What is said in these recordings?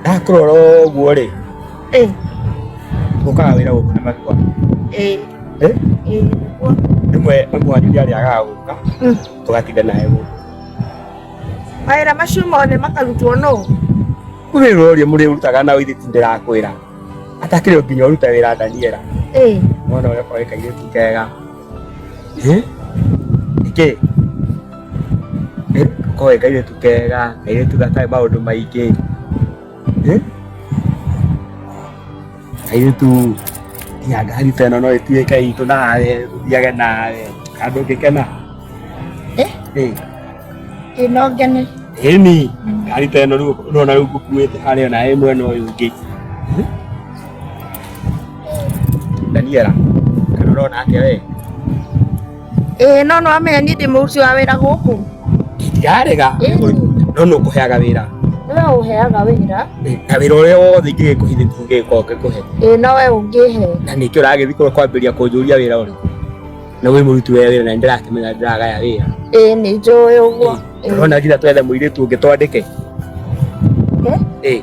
ndakurora ũguo rĩ Eh, ũkaga wĩra gũkũ na makwa eh, Eh? eh, nĩguo. rĩmwe mũhariria arĩa agaga gũka Mm. tũgatinda naye gũkũ mawĩra macio mothe makarutwo nũ wĩra ũrĩa mũrĩ ũrutaga na ũithĩti ndĩrakwĩra atakĩrĩ nginya ũruta wĩra ndaniera Eh, mwana ũrĩa ũkoreka irĩtu kega Eh? Nĩkĩ? Eh, koe kairĩtu kega, kairĩtu gatarĩ maũndũ maingĩ. Eh? Kairĩtu nginya ngari ta ĩno no ĩtuĩke itũ nawe, thiage nawe, handũ ũngĩkena. Eh? Eh. Ĩno ngene. Ĩni, ngari ta ĩno rĩu ũrona rĩu ngũkuĩte harĩa na ĩmwe na ũyũ ũngĩ. Daniela, kana ũrona ake we? Ĩĩ no no amenya niĩ ndĩ mũruti wa wĩra gũkũ. Ndarega. No no kũheaga wĩra. Nĩwe ũheaga wĩra. Na wĩra ũrĩa wothe ingĩgĩkũhithĩtie ngĩgĩkorwo ngĩkũhe. Ĩĩ no we ũngĩhe. Na nĩkĩo ũragĩthiĩ kũrĩa kwambĩrĩria kũnjũria wĩra ũrĩ. Na wĩ mũruti wa wĩra na nĩndĩrakĩmenya ndĩragaya wĩra. Ĩĩ nĩ njũĩ ũguo. Ũrona nginya twethe mũirĩtu ũngĩ twandĩke. Ĩĩ.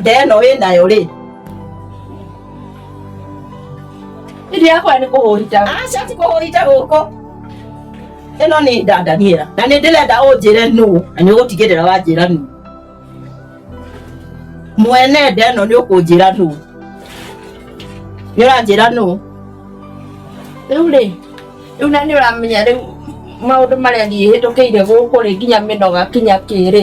nda ĩno wĩ nayo rĩ ĩndĩ yakwa nĩ kũhũrita aca ti kũhũrita gũkũ ĩno nĩ nda ndaniera na nĩ ndĩrenda ũnjĩre nũ na nĩ ũgũtigĩrĩra wanjĩra nũ mwene nda ĩno nĩ ũkũnjĩra nũ nĩ ũranjĩra nũ rĩu rĩ rĩu na nĩ ũramenya rĩu maũndũ marĩa niĩ hĩtũkĩire gũkũ rĩ nginya mĩnoga kinya kĩrĩ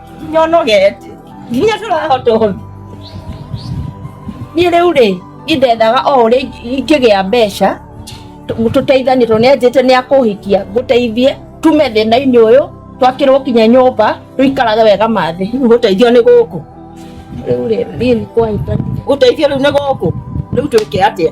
nyonogete nginya tũrahota ũhũthi niĩ rĩu rĩ indethaga o ũrĩa ingĩgĩa mbeca tũteithanie tondũ nĩanjĩte nĩ akũhikia ngũteithie tume thĩna-inĩ ũyũ twakĩrwo kinya nyũmba tũikarage wega mathĩ rĩu gũteithio nĩ gũkũ rĩu rĩ niĩ nĩ kwahĩtania gũteithio rĩu nĩ gũkũ rĩu twĩke atĩa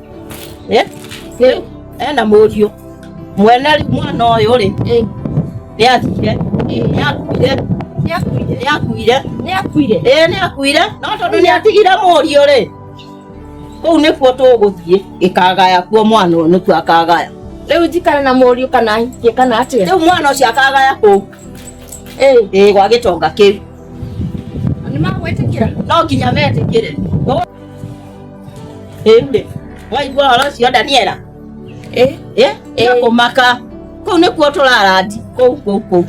eh Eh, ena mũriũ mwene rĩ- mwana ũyũ rĩ eh, nĩ athire eh. nĩ akuire Nĩ akuire. nĩ akuire Nĩ akuire. ĩĩ nĩ akuire no tondũ nĩ atigire mũriũ rĩ kũu nĩkuo tũgũthiĩ gĩkagaya kuo mwana ũyũ nĩkuo akagaya Rĩu njikare na mũriũ kana hikie kana atĩa? rĩu mwana ũcio akagaya kũu Eh, ĩĩ gwa gĩtonga kĩu nĩ magwĩtĩkĩra? no nginya metĩkĩre ĩndĩ waigua horo ũcio daniela Eh, eh, eh. kũmaka kũu nĩkuo tũrarandi kũu kũu kũu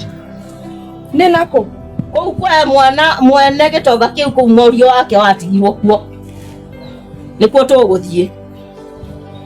nĩ nakũ kũu kwa mwana mwene gĩtonga kĩu kũu mũriũ wake watigirwo kuo nĩkuo tũgũthiĩ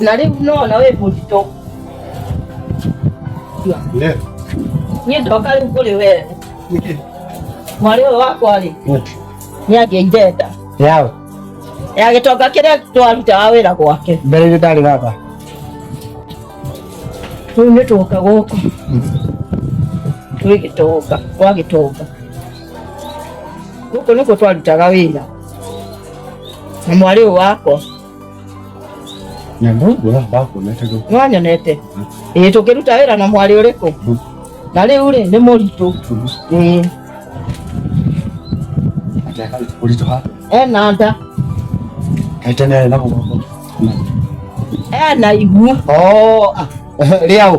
Na rĩu nona wĩ mũritũ. Ndio. Niĩ ndoka rĩu kũrĩ wee. Mwarĩ ũyũ wakwa rĩ, nĩ angĩire nda. Yao. Ya gĩtonga kĩrĩa twarutaga wĩra gwake. Mbere nĩ ndarĩ gaka. Rĩu nĩ twoka gũkũ. Twĩ gĩtonga, gwa gĩtonga. Gũkũ nĩkuo twarutaga wĩra. Na mwarĩ ũyũ wakwa. nĩwanyonete ĩĩ tũkĩruta wĩra na mwarĩ ũrĩkũ na rĩu rĩ nĩ mũritũ ĩĩ ena nda ena ihu rĩaũ